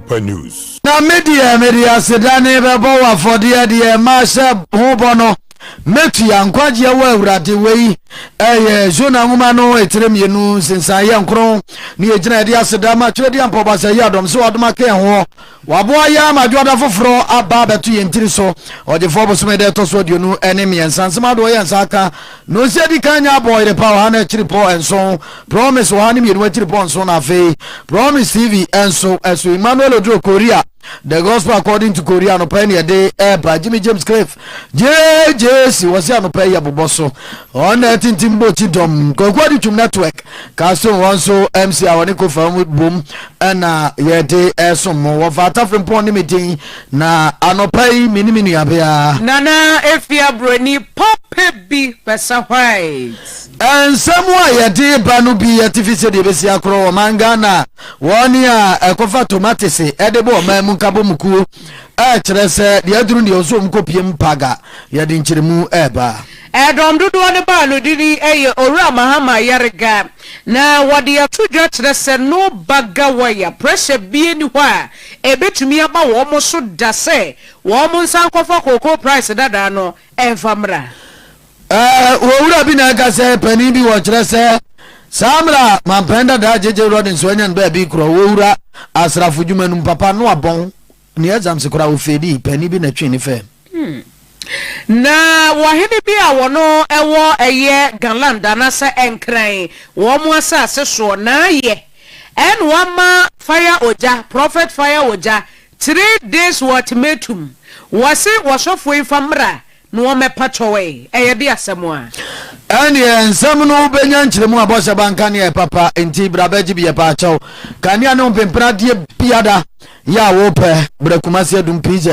Super News. Na media media sedane bɛbɔ wɔ afɔdeɛ deɛ ɛma hyɛ ho bɔ no Metua nkwagyeɛ wɔ Awurade. Wei yɛ Jonah nwoma no etire mmienu nsensan yɛ nkron ne yɛ gyina yɛde aseda ma twerɛdeɛ mpɔ basa yi adɔm sɛ wadom aka yɛn hoɔ waboa yɛn ama adwoada foforɔ aba abɛto yɛn tiri so ɔgyefoɔ bosome da ɛtɔ so aduonu ne mmiɛnsa nsɛm adoɔ yɛn nsa aka no nsi adi kan nya abɔ yere pa ɔha no akyiri pɔ nson promise ɔha ne mmienu akyiri pɔ nson na afei promise tv nso ɛso Emmanuel Oduro Korea The Gospel According to Korea no pɛn yɛde ɛba Jimmy James Cliff gyegyeegye si wɔsi anɔpa yi yɛbobɔ so wɔn na ɛtintim bɔ ti dɔm kwaku adi twom network castle wɔn so mc a wɔne kofa mu bom ɛna yɛde ɛsom mo wɔfa atafere mpɔn ne me din na anɔpa yi me ne me nuabea nana efi aburoni papa bi bɛsa white nsɛm a yɛde ba no bi yɛte fi sɛ deɛ bɛsi akorɔ wɔn man ghana wɔn a ɛkɔfa tomatese ɛde bɔ ɔman mu nkabɔmukuo ɛkyerɛ sɛ deɛ aduru deɛ ɔsɛ wɔn kɔpie mu paga yɛde nkyerɛmu ɛreba. Dɔm dodoɔ no baa no din yɛ Owura Mahama Yariga na wɔde ato dwa kyerɛ sɛ no baga wire pressure bia ni hɔ a ɛbɛtumi aba wɔn so da sɛ wɔn nsa nkɔfa cocoa price dadaa no mfa mmra. Owura bi na ɛka sɛ panin bi wɔ kyerɛ sɛ saa mmerɛ a mampɛn dadaa JJ Rawlings wanya no baabi korɔ owura asrafo dwuma no mu papa no abɔn ne exams koraa ofeedii panin bi na ɛtwee ne fɛm. Na wɔ hene bi a wɔn ɛwɔ ɛyɛ Galand anasɛ Nkran wɔn asase soɔ na ayɛ ɛna wama Fire Ogya Prophet Fire Ogya three days ultimatum wɔse wɔsɔfoɔ yi fa mmra No wɔ mɛpa kyɛw ɛ, ɛyɛ de asɛm a. Ɛnneɛ nsɛm no bɛnya nkyerɛmu a bɔhyɛ ba nka neɛ papa nti bra bɛgye bi yɛpa kyɛw kanea ne mpempena adeɛ biada yɛ a wo pɛ bra Kumasi adum pz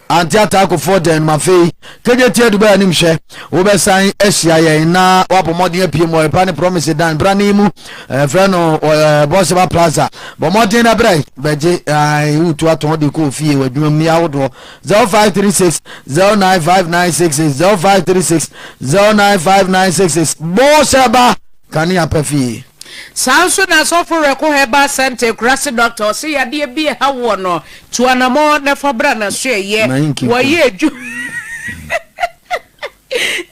ante ataako foɔ dɛn nom afei kegye tie dubai anim hwɛ wo bɛ san ahyia yɛn na wabɔ mɔden apie mu ɔyɛpa ne promise dan bra ne mu eh, frɛ no eh, bɔhyɛ ba plaza bɔ mɔden na bra bɛgye eh, wotu atɔn de kɔ ofie wadwuma mu yɛ ahodoɔ zero five three six zero nine five nine six six zero five three six zero nine five nine six six bɔɔ sɛ ba kanea pɛ fie. Saa nso na Asɔfo Werɛko Herbal Centre Akurase Doctor ɔse yadeɛ bi ɛha woɔ no tu anamɔ na fa bra naso ɛyɛ wɔyɛ adwuma.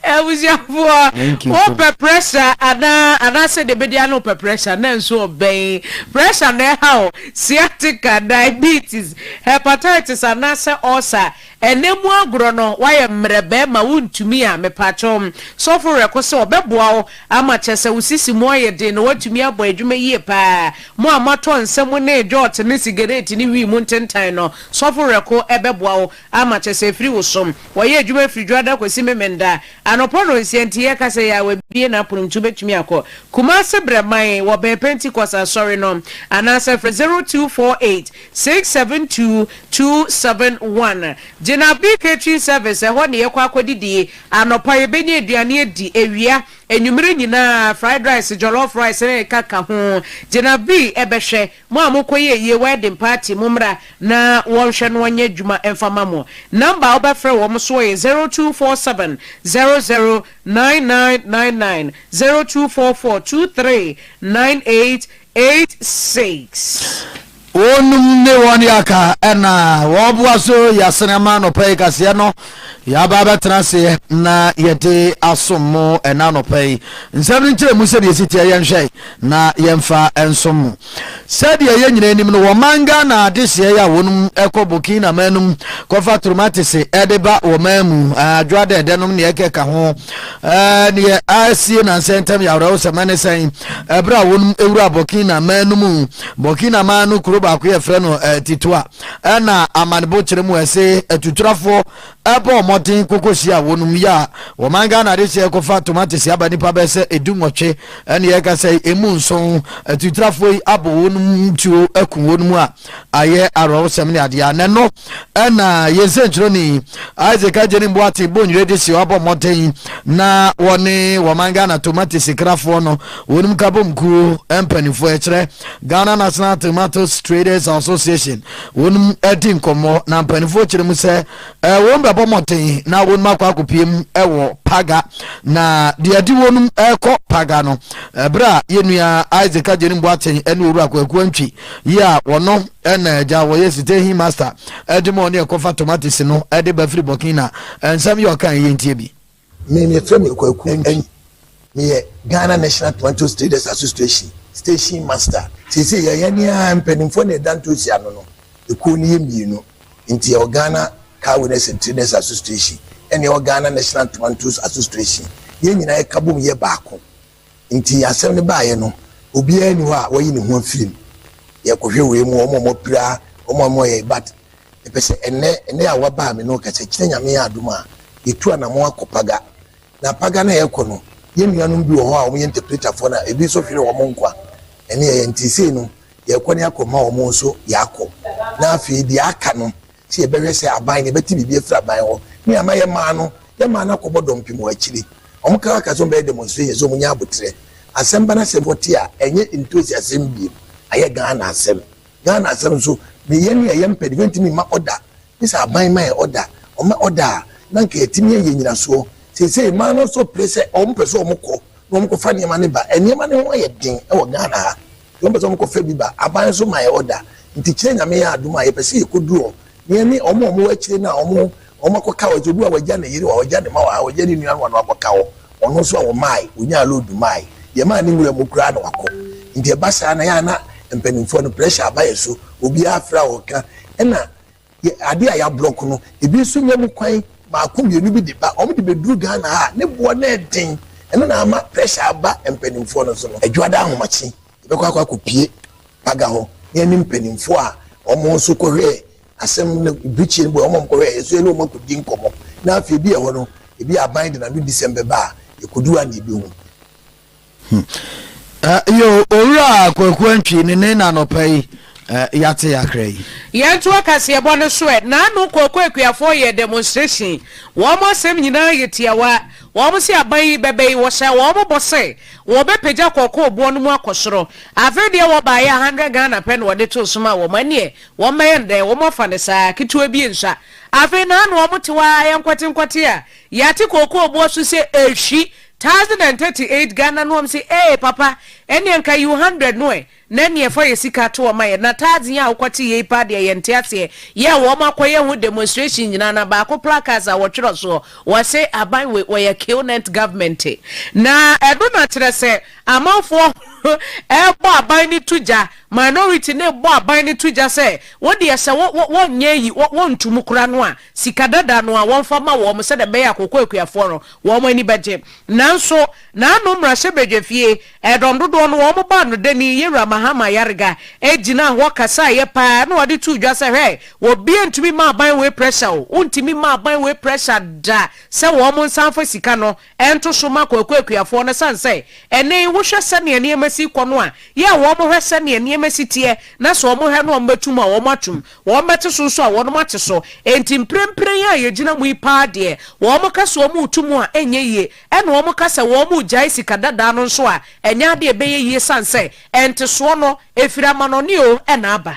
Abusuafoɔ, wopɛ pressure anaa anaasɛ deɛ bɛdi ano pɛ pressure na nso ɔbɛn pressure na ɛha o sciatica, diabetes, hepatitis anaasɛ ulcer ɛnɛ mu agorɔ no wayɛ mmerɛ bɛrima wontumi a mepaakyɛ wo sɔfo werɛko sɛ ɔbɛboa wo ama kyɛ sɛ wo sisi mu ayɛ den na woatumi abɔ adwuma yie paa mo a moatɔ nsa mu ne dwɔɔt ne sigaret ne wii mu ntentan no sɔfo werɛko ɛbɛboa wo Alma kyɛ sɛ ɛfiri wo som. Wɔyɛ adwuma firi dwoada kɔsi Memenda anɔpa nnɔnsia nti yɛka sɛ yɛ a wabue n'apono nti wobɛtumi akɔ. Kumase brɛ man wɔ bɛn Pentecost asɔre no anaasɛ frɛ 0248 672 271. Gyinabe Catering Service ɛhɔ ne yɛkɔ akɔdidie. Anɔpa yɛbɛnya aduane adi, awia, anwumerɛ nyinaa fried rice, jollof rice ne ɛkaka ho. Gyinabe bɛhwɛ. Mo a mokɔyɛɛ yie wedding party mommra na wɔnhwɛ no ɔnyɛ adwuma mfa mma mo. Number a wobɛfrɛ wɔn soɔ yɛ zero two four seven zero zero nine nine nine nine, zero two four four two three nine eight eight six. Wɔnom ne wɔn yɛ aka na wɔboa so yɛ asene ama anɔpa yi kaseɛ no. Yɛaba abɛtena ase na yɛde asom mo ɛna anɔpa yi. Nsɛm no nkyerɛmu sɛdeɛ ɛsi teɛ yɛnhwɛ na yɛmfa nsom mo. Sɛdeɛ yɛn nyinaa nim no, wɔman Ghana adehyeɛ a wɔnom kɔ Burkina man no mu kɔfa tromatese de ba wɔman mu, adwo adɛɛdɛ nom neɛ ɛkeka ho. Neɛ asie nansɛ ntam yɛ awerɛhosɛm ɛne sɛn ɛberɛ a wɔnom wura Burkina man no mu. Burkina man no kuro baako yɛfrɛ no Titoa. na amanebo kyerɛ mu ɛse atuturafo ɛbɔ ɔmɔden koko hyia wɔnom yi a wɔman Ghana de hyɛ ɛkɔfa tomatese aba nipa bɛ sɛ edu nwɔtwe ɛne ɛka sɛ emu nson atuturafo yi abɔ wɔnom tuo aku wɔnom a ayɛ awrɛwosɛm ne adeɛ a nɛno ɛna yɛn sɛnkyerɛni Isaac Agyeni Mboate Bonwire de hyɛ ɔbɔ ɔmɔden na wɔne wɔman Ghana tomatese krafoɔ no Wonim Kabom kuo mpaninfoɔ ɛkyerɛ Ghana National Tomatoes Traders Association wonom adi nkɔmmɔ na mpaninfoɔ kyerɛ mu sɛ wonom bɛbɔ mmɔden na wonom akɔ akɔpie mu wɔ Paga na deɛ adi wonom ɛkɔ Paga no ɛberɛ a yɛnua Isaac Agyenim Boateng ɛne Owura Kwaku Antwi yi a wɔno ɛna agya wɔyɛ site he master ɛde ma ɔne ɛkɔfa tomatoes no ɛde ba firi Burkina ɛnsɛm yɛ ɔkan yɛntie bi. Me yɛfrɛ me Kwaku Antwi, me yɛ Ghana National Tomatoes Traders Association Station Master. Seesei yɛ yɛne ara mpaninfoɔ na ɛda ntoosi ano no, ekuo no yɛ mmienu nti yɛwɔ Ghana Car Owners and Traders Association ɛna yɛwɔ Ghana National Tomatoes Association, yɛn nyinaa yɛ ka bom yɛ baako. Ntsi asɛm no baeɛ no, obiara nni hɔ a wayi ne ho afiri mu. Yɛrekɔhwɛ wei mu, wɔn a wɔapira, wɔn a wɔyɛ, but mepɛ sɛ ɛnnɛ, ɛnnɛ a woabaa me ne wo kasa, kyena Nyame yɛ adom a, yɛtu anamɔn akɔ Paga. Na Paga no a yɛrekɔ no, yɛn nuanom bi wɔ hɔ a wɔyɛ interpreterfoɔ na ebi nso hwere wɔn nkwa. Ɛno yɛyɛ, ntsi sei no, yɛrekɔ ne akɔma wɔn nso yɛakɔ. Na afei deɛ aka no, sɛ yɛbɛhwɛ sɛ aban no, yɛbɛte biribi afiri aban hɔ. Ne ama yɛmaa no, yɛmaa no akɔbɔ dɔmpem wɔ akyire. Wɔkaa ka sɛ wɔbɛyɛ demonstration sɛ wɔnya aboterɛ. Asɛm ba no asɛ wɔte a, ɛnyɛ ntosi asɛm biom, ayɛ Ghana asɛm. Ghana asɛm nso, ne yɛn ne a yɛmpɛ no, yɛntumi mma order. Gye sɛ aban ma yɛn order. Wɔma order a, na anka yɛatumi ayɛ nnyinasoɔ. Seesei mmaa no nso pere sɛ wɔpɛ sɛ wɔkɔ na wɔkɔfa nneɛma no ba. Nneɛma no ho ayɛ den wɔ Ghana ha. Deɛ wɔpɛ sɛ wɔkɔ fɛ bi ba. Aban nso ma yɛ order. Nti kyerɛ Nyame yɛ adom a yɛpɛ sɛ yɛkɔ duru hɔ na yɛne wɔn a wɔwɔ akyire no a wɔn wɔn akɔ ka hɔ. Sɛ obi wɔ ha wagya ne yere wɔ ha, wagya ne mma wɔ ha, wagya ne nuanom wɔ ha na wakɔ ka hɔ. Ɔno nso a wɔmaae, wɔnyaa load maae. Deɛ ɛmaa ne nwura mu koraa na wakɔ. Nti ɛba saa no ɛyɛ a na mpanimfoɔ no pressure aba yɛ so. Obiara fra ɔɔka. Ɛna Yɛ adeɛ a yɛablɔk no. Ebi nso nya mu kwan baako mmienu bi de ba. Wɔn de bɛduru Ghana ha a, ne boɔ no yɛ den. Ɛno na ama pressure aba mpanimfoɔ no so no. Adwoada ahomakye, yɛbɛkɔ akɔ akɔpie Paga hɔ na yɛne mpanimfoɔ a wɔn nso kɔhwɛɛ asɛm no, birikyie no boɔ yɛ wɔn a wɔkɔhwɛɛ yɛ nso yɛne wɔn akɔdi nkɔmmɔ. Na afei ebi wɔ hɔ no, ebi a aban de n'ano di sɛm bɛba a, yɛkɔdu hɔ a na yɛbɛhu. Hmm. Yo, owura Kwaku Antwi ne ne nanɔpa yi yɛate yakra yi. Yɛn to akaseɛbɔ no so ɛ. Naano Kwaku Akuafoɔ yɛɛ demonstration. Wɔn asɛm nyinaa yɛ tiawa. Wɔn se aban yi bɛbɛ yi, wɔhyɛɛ wɔn bɔ sɛ wɔbɛpagya kɔkɔɔ boɔ no mu akɔ soro. Afei deɛ wɔbaeɛ a, 100 Ghana pɛ na wɔde too so maa wɔn. Ɛneɛ, wɔmmɛyɛ no dɛn? Wɔn afa no saa, ketewa bi nsua. Afei naano wɔte hɔ ara, yɛnkɔtenkɔte a, yɛate kɔkɔɔ boɔ so sɛ ɛrehwi. Thousand and thirty eight Ghana no wɔm se ee papa ɛneɛ nka you hundred no ɛ na ɛneɛ fa yɛ sika to hɔ ma yɛ na thousand yi a wokɔ te yei paa deɛ yɛnte aseɛ yɛ wɔm akɔ yɛ ho demonstration nyinaa na baako placards a wɔtwerɛ soɔ wɔse aban wei wɔyɛ killnent government na ɛno na kyerɛ sɛ amanfoɔ ɛrebɔ aban no to gya minority no rebɔ aban no to gya sɛ wodeɛ sɛ wo wo wɔnyɛ yi wo wɔnto mu kora no a sika dada no a wɔmfa mma wɔn sɛdeɛ ɛbɛyɛ a kooko akuafoɔ no wɔn ani bɛgye. Nanso n'ano mmarahyɛbadwafie ɛdɔm dodoɔ no wɔn baa no dani Yawura Mahama Yarega gyinaa hɔ kasaeɛ pa ara na ɔde too dwa sɛ hwɛ obiara ntumi mma aban wei pressure o, wontumi mma aban wei pressure da sɛ wɔn nsa mfa sika no Ɛnto so ma Kwaku akuafoɔ no sane sɛ ɛnne yi wohwɛ sɛdeɛ nneɛma si rekɔ no a, yɛ a wɔn hwɛ sɛdeɛ nneɛma si teɛ na sɛ wɔn hwɛ no wɔn bɛto mu a wɔn ato mu, wɔn bɛte so nso a wɔn ate so. Enti mprempren a yɛgyina mu yi paa deɛ, wɔn ka sɛ wɔn reto mu a ɛnyɛ yie, ɛna wɔn ka sɛ wɔn regyae sika dadaa no nso a ɛnyɛ adeɛ ɛbɛyɛ yie sane sɛ ɛntesoɔ no ɛfiri amanɔne oo ɛna aba.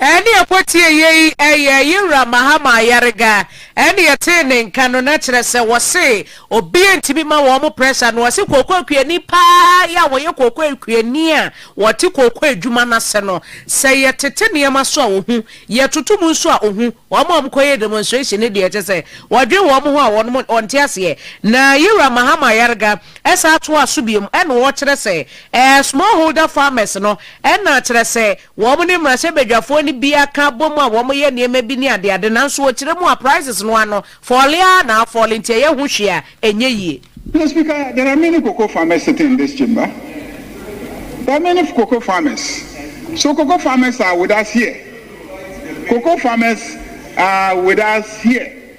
Ɛnne a ɛbɔ tiaeɛ yi yɛ Yewura Mahama Ayariga. Ɛnne yɛtee ne nka no na kyerɛ sɛ wɔse obia ntumi ma wɔn mo pressure no wɔse kooko kuani paa yɛ a wɔyɛ kooko kuani a wɔte kooko adwuma no ase no sɛ yɛtete nneɛma so a ɔhu yɛtoto mu nso a ɔhu wɔn a wɔn kɔyɛ demonstration no deɛ kyɛ sɛ wɔdwen wɔn ho a wɔn mo wɔn te aseɛ na Yewura Mahama Ayariga ɛsan toa so biom ɛna ɔkyerɛ sɛ ɛɛ small holder farmers no ɛna kyerɛ sɛ Wɔne mmarahyɛbadwafoɔ no bi aka abom a wɔyɛ nneɛma bi ne adeade nanso wɔkyerɛ mu a prices no ano fɔɔle ara na afɔɔle nti ɛyɛ ho hwee a ɛnyɛ yie. Mister Speaker, there are many cocoa farmers sitting in this chamber. There are many cocoa farmers. So cocoa farmers are with us here. Cocoa farmers are with us here.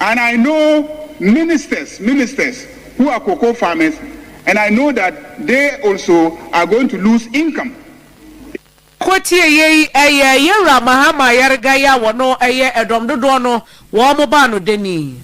And I know ministers ministers who are cocoa farmers and I know that they also are going to lose income. Kɔ tie yei, ɛyɛ yɛwura Mahama Yarga yi a wɔno ɛyɛ ɛdɔm dodoɔ no wɔn mo baa no dɛnii.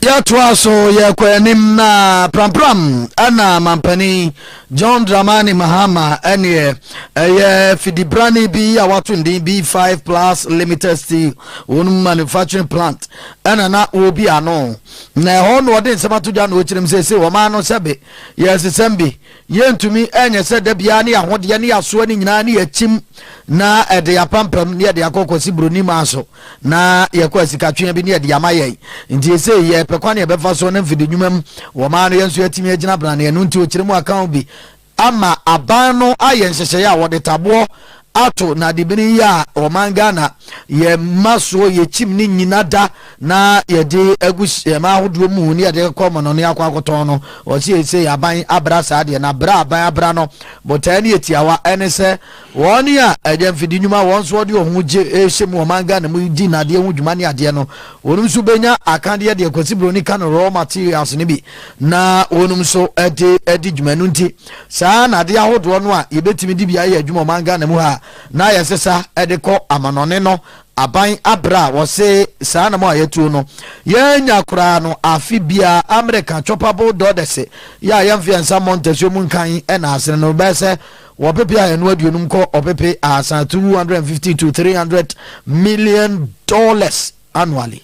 Yɛtoaa so yɛɛ kɔɔ anim na prampram na Mampanin John Dramani Mahama neɛ ɛyɛ fidibrani bi a wato ne din B5 Plus Limited Steel wɔn manufacturing plant ɛna na wɔbi ano na ɛhɔ na ɔde nsɛm ato dwa na ɔkyerɛm sese wɔn ano sɛbe yɛsesɛm bi Yɛntumi nyɛ sɛ da biara ne yɛahodeɛ ne yɛasoa no nyinaa ne yɛakyim na ɛde yɛapampam ne yɛde akɔ kɔsi buroni maa so na yɛkɔ asikatwea bi ne yɛde ama yɛn. Nti esei yɛpɛ kwan yɛbɛfa so ne mfede nnwuma mu wɔ maa no yɛn nso yɛatumi agyina brane ɛno nti ɔkyerɛ mu akaw bi ama aban no ayɛ nhyehyɛeɛ a wɔde taboɔ ato nadebini yi a ɔman Ghana yɛ ma soɔ yɛ kyim ne nyina da na yɛde agu hyɛma ahodoɔ mu ne yɛde kɔ mɔnɔ ne akɔ akɔtɔn no ɔse yɛ sɛ aban abra saa deɛ na bra aban abra no botae ne yɛ tiawa ɛne sɛ wɔn a ɛyɛ mfidi nnwuma wɔn nso ɔde ɔho gye ɛhyɛ mu ɔman Ghana mu di nadeɛ ho dwuma ne adeɛ no wɔnom nso bɛnya akadeɛ deɛ Kwasi Broni ka no raw materials no bi na wɔnom nso ɛde ɛde dwuma no nti Saa ara na ade ahodoɔ no a yɛbɛtumi de bi ayɛ adwuma ɔman Ghana mu ha a na yɛsesa de kɔ amanɔne no aban abrɛ a wɔse saa anamɔ a yɛatuo no yɛanya koraa no afe biara American choppable dɔdɛse yɛ a yɛmfe yɛn nsa mmɔ ntasuo mu nkan na asene no bɛyɛ sɛ ɔpepe ahanu aduonum kɔ ɔpepe ahasan 250 to 300 million dollars annually.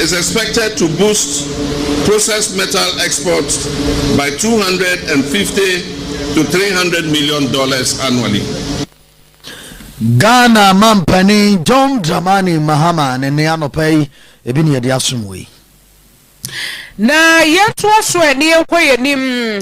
is expected to boost processed metal exports by two hundred and fifty to three hundred million dollars annually. Ghana mampanin John Dramani Mahama ne nne anɔpa yi, ebi na yɛde asom wo yi. Na yɛntoa so ɛ, na yɛnkɔ yɛn anim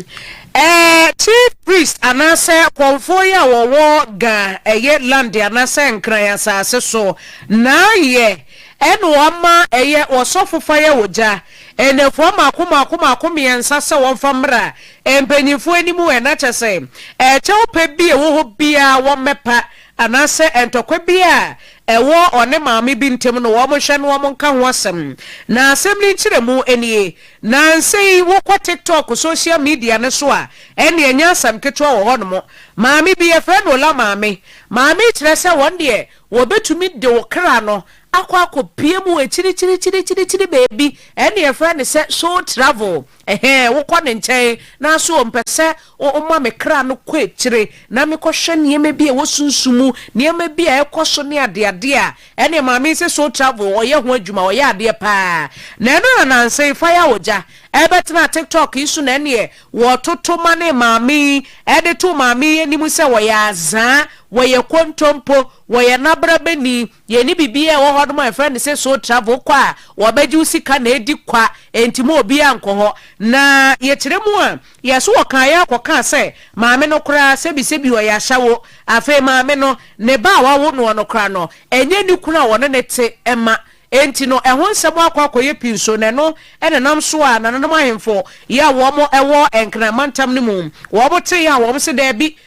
ɛ, Chief Priest anaasɛ Kɔmfoɔ yi a wɔwɔ Ga ɛyɛ Lande anaasɛ Nkran asaase so na yɛ ɛ, na wɔama ɛyɛ Ɔsɔfo Fire Ogya nnafua mmaako mmaako mmaako mmiɛnsa sɛ wɔmfa mmra mpanyinfoɔ anim ɛ, na kyɛ sɛ ɛ, kyɛw pɛ bi a ɛwɔ hɔ biara wɔmmɛpa anaasɛ ntɔkwa bi a ɛwɔ ɔne maame bi ntam no, wɔnhwɛ na wɔnka ho asɛm. Na asɛm no nkyerɛmu nie, Nnansa yi wokɔ TikTok, social media, no so a, ɛnneɛ ɛnyɛ asɛm ketewa wɔ hɔnom. Maame bi, yɛfrɛ no Ola maame. Maame yi kyerɛ sɛ wɔn deɛ wɔbɛtumi de wo kra no akɔ akɔpue mu wɔ akyirikyirikyirikyiri baabi, ɛnneɛ yɛfrɛ no sɛ soul travel. Ɛhɛɛ, wokɔ ne nkyɛn, naaso ɔmmpɛ sɛ ɔma me kra no kɔ ekyire na mekɔhwɛ nneɛma bi a ɛwɔ sunsum mu, nneɛma bi a ɛkɔ so ne adeade a ɛne Maame yi sɛ Soul Travel ɔyɛ ho adwuma, ɔyɛ adeɛ paa. Na ɛno na nansa yi Fire Ogya ɛbɛtenaa TikTok yi so na ɛneɛ wɔtoto ma ne Maame yi, ɛde to Maame yi anim sɛ wɔyɛ azaa, wɔyɛ kontompo, wɔyɛ nabrabani, Yɛnni biribiara a ɛwɔ hɔnom a yɛfrɛ no sɛ soul travel, wokɔ a wɔbɛgye wo sika na adi kwa, enti ma obiara nkɔ hɔ. Na yɛkyerɛ mu a, yɛn so wɔkaeɛ ara kɔkaa sɛ, Maame no koraa, sɛbisɛbi ɔyɛ ashawo. Afei maame no, ne ba a wawo noɔ no koraa no, ɛnyɛ ne kunu a ɔne no te mma. Enti no, ɛho nsɛm akɔ akɔyɛ pii nso, na ɛno na ɛnam so a nananom ahemfo yi a wɔn wɔ Nkran mantam no mu, wɔn tee a wɔn se, Daabi,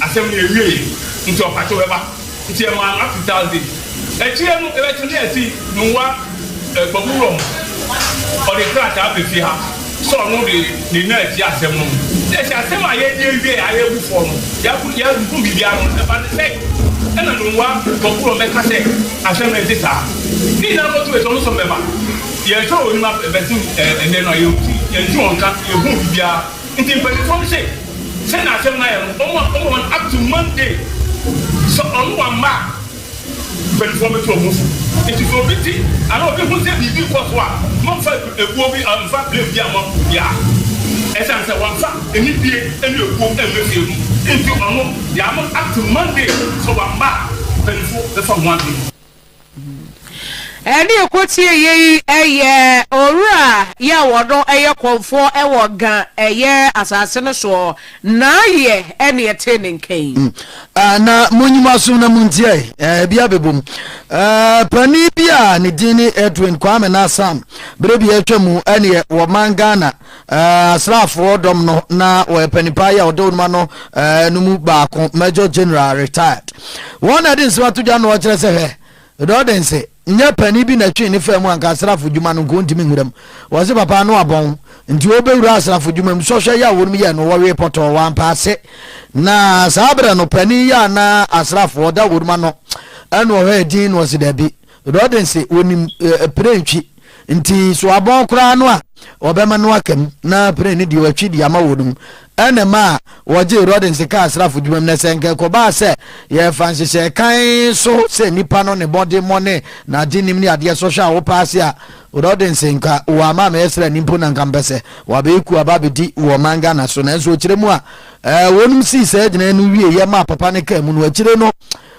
Asɛm no ewiei ntsi ɔpakye bɛba ntsi yɛ maa no up to Thursday ekyir no ebɛkye no yɛtse Nungua Ekpabu wura mu ɔde krataa aba fie ha sɛ ɔno de ne nan etsie asɛm no mu na yɛse asɛm a yɛdzi ewiei a yebu fɔ no yɛabu yɛabubu biribiara no ɔno bɛba ne sɛn na Nungua Ekpabu wura mu bɛka sɛ asɛm no ntse saa ne nyinaa bɔto yɛse ɔno so ɔmbɛba yɛnhwɛ wɔ enyim abɛsen ndɛ no a yɛnntse yɛnntse wɔn nka yɛnhuu biribiara. Ntsi mpanyimfo no se, sɛ n'asɛm no ayɛ no, ɔma ɔma hɔn up to Monday. Sɛ ɔno ɔammba a, mpanyimfo no bɛtu hɔn fo. Ntsi sɛ obi tse anaa obi hu dɛ biribi rokɔ so a, mommfa ebu ebuo bi anaa mmfa blame biara mma obiara. Esiane sɛ wɔammfa anibue ne ebuo ammba fie no ntsi, ɔno, yɛama no up to Monday. Sɛ ɔammba a, mpanyimfo bɛfa ho adwen. Ɛne ɛkɔtie yei yɛ owura yɛ wɔno yɛ kɔmfoɔ wɔ ga yɛ asase no soɔ na yɛ ɛne ɛte ne nkɛn. Mm. Uh, na monyi mo asom na montie uh, bi abɛbom uh, pani bi a ne din ne Edwin Kwame Nasam berɛ bi atwa mu ɛneɛ wɔ man Ghana Asraafoɔ dɔm no na wɔyɛ panipae yi a wɔde wɔnom ano no mu baako, Major General, Retired. Wɔn na ɛde nsem ato dwa no wɔkyerɛ sɛ hwɛ, Dɔɔdense, nyɛ panin bi na ɛtwee ne faa mu anka asraafo dwuma no nka ɔntumi nwura mu. Wɔse papa no abɔn nti ɔbɛwura asraafo dwuma mu. Sɔhwɛ yi a wɔnom yɛɛ no wɔwee pɔtɔɔ, wɔampɛ ase. Na saa berɛ no panin yi a na asraafoɔ da wɔnom ano na ɔhwɛ din no ɔse dabi, Rodin se, Onim pire ntwi, nti so abɔn koraa no a wɔbɛma no aka mu na pire no deɛ wɔatwi de ama wɔn mu na ɛma wɔgyee Rodin se kaa asrafo dwuma mu. Na sɛ nka ɛkɔbaa sɛ yɛfa nhyehyɛɛ kann so sɛ nipa no ne mmɔdemmɔ ne n'adenim ne adeɛ sɔhwɛ a wopɛ ase a, Rodin se, nka wɔama amɛyɛ srani mpo na nka mpɛ sɛ wɔabɛyɛ kuo aba abɛdi wɔ ɔman Ghana so. Nanso ɔkyerɛ mu a wɔnom sii saa gyinaɛ no wieɛ maa papa no kaa mu no, akyire no,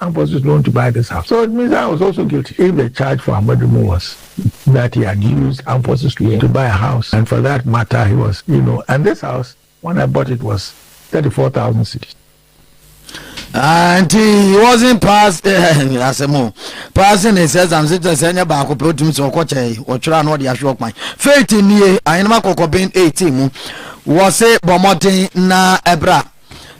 Ambrose is known to buy this house so it means I was also guilty if the charge for Amoadumo was that he had used Ambrose's loan to buy a house and for that matter he was you know and this house when I bought it was thirty four thousand cedis. nti he wasn't pass asɛm o passing his exam sɛ kyerɛ sɛ ɛnyɛ baako pɛ wotumi sɛ ɔkɔkyɛ ɔtwerɛ a na ɔde ahwɛ ɔkwan faith nie ahenema kɔkɔben 18 mu wɔ se bɔ mmɔden na ɛbra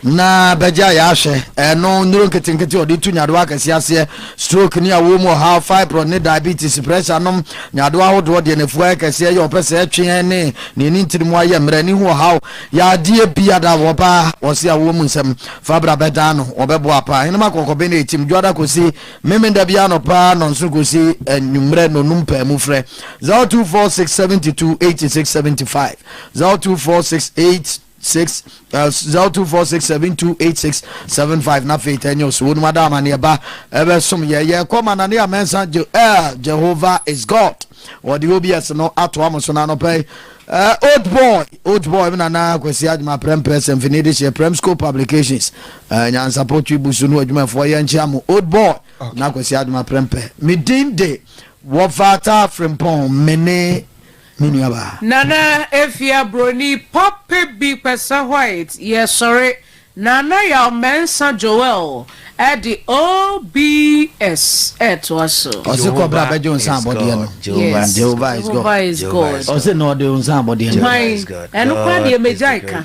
na bɛgya yɛ ahwɛ ɛno nnuro nketenkete ɔde tu nyadoa akɛseɛ aseɛ stroke ne awoɔ mu ɔhaw fibroid ne diabetes pressure nom nyadoa ahodoɔ deɛ nafua yɛ kɛseɛ yɛ ɔpɛ sɛ ɛtweɛ ne ne ne ntiri mu ayɛ mmerɛ ne ho ɔhaw yadeɛ bi ada wɔ baa wɔse awoɔ mu nsɛm fabra bɛdaa no wɔbɛboa paa henema kɔkɔbe ne ɛtim dwoada kɔsi memenda bi anɔ paa nɔnsono kɔsi anwummerɛ nonum paa mu frɛ 0246728675 024682 six uh, zero two four six seven two eight six seven five na afei tɛ news wɔn mu ada amaneɛ ba ɛbɛ som yɛ yɛ kɔ ma nane amɛnsa je ɛɛ jehovah is god wɔde obs no ato amu so na anɔpɛ ɛɛ old boy old boy mi nana kwasi adwuma prɛm prɛs mfini de hyɛ prɛm school publications ɛɛ nyansapɔ twi busu no adwumafoɔ yɛ nkyɛn mu old boy na kwasi adwuma prɛm pɛ mi din de wɔfata frimpɔn mene. me nua baa. Nana Afia Broni papa bi Kpɛsɛ White yɛsɔre Nana Yaw Mɛnsa Joel ɛde OBS ɛtoa so. Ɔse kɔ bra bɛgye wo nsa abɔdeɛ no Yes Jehovah is God Ɔse na ɔde wo nsa abɔdeɛ no Hwan? Ɛno koraa deɛ magyae ka.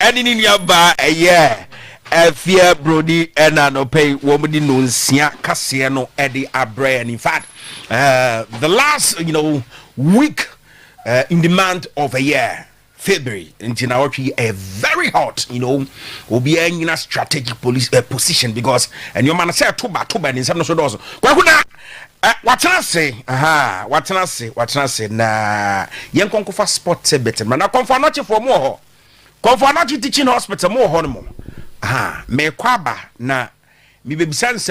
ɛne ne nuabaa ɛyɛɛ ɛfeɛ broni ɛna anɔpɛ yi wɔn de nonsia kaseɛ no ɛde abrɛ yɛn in fact uh, the last you know week uh, in the month of a year February nti na wɔtwe yi ɛyɛ very hot you know obiara nyina strategic police uh, position because nneɛma no sɛ ɛto ba to ba ne nsɛm no so dɔɔso kwaku na uh, watena ase aha watena ase watena ase na yɛn kɔnkɔfa sport tibet mmerɛ na kɔnfɔ anɔkyefoɔ mu wɔ hɔ. Kɔmfo Anokye Teaching Hospital, mowɔ hɔ nom? Ahaa, merekɔ aba na mebɛbisa nsɛm.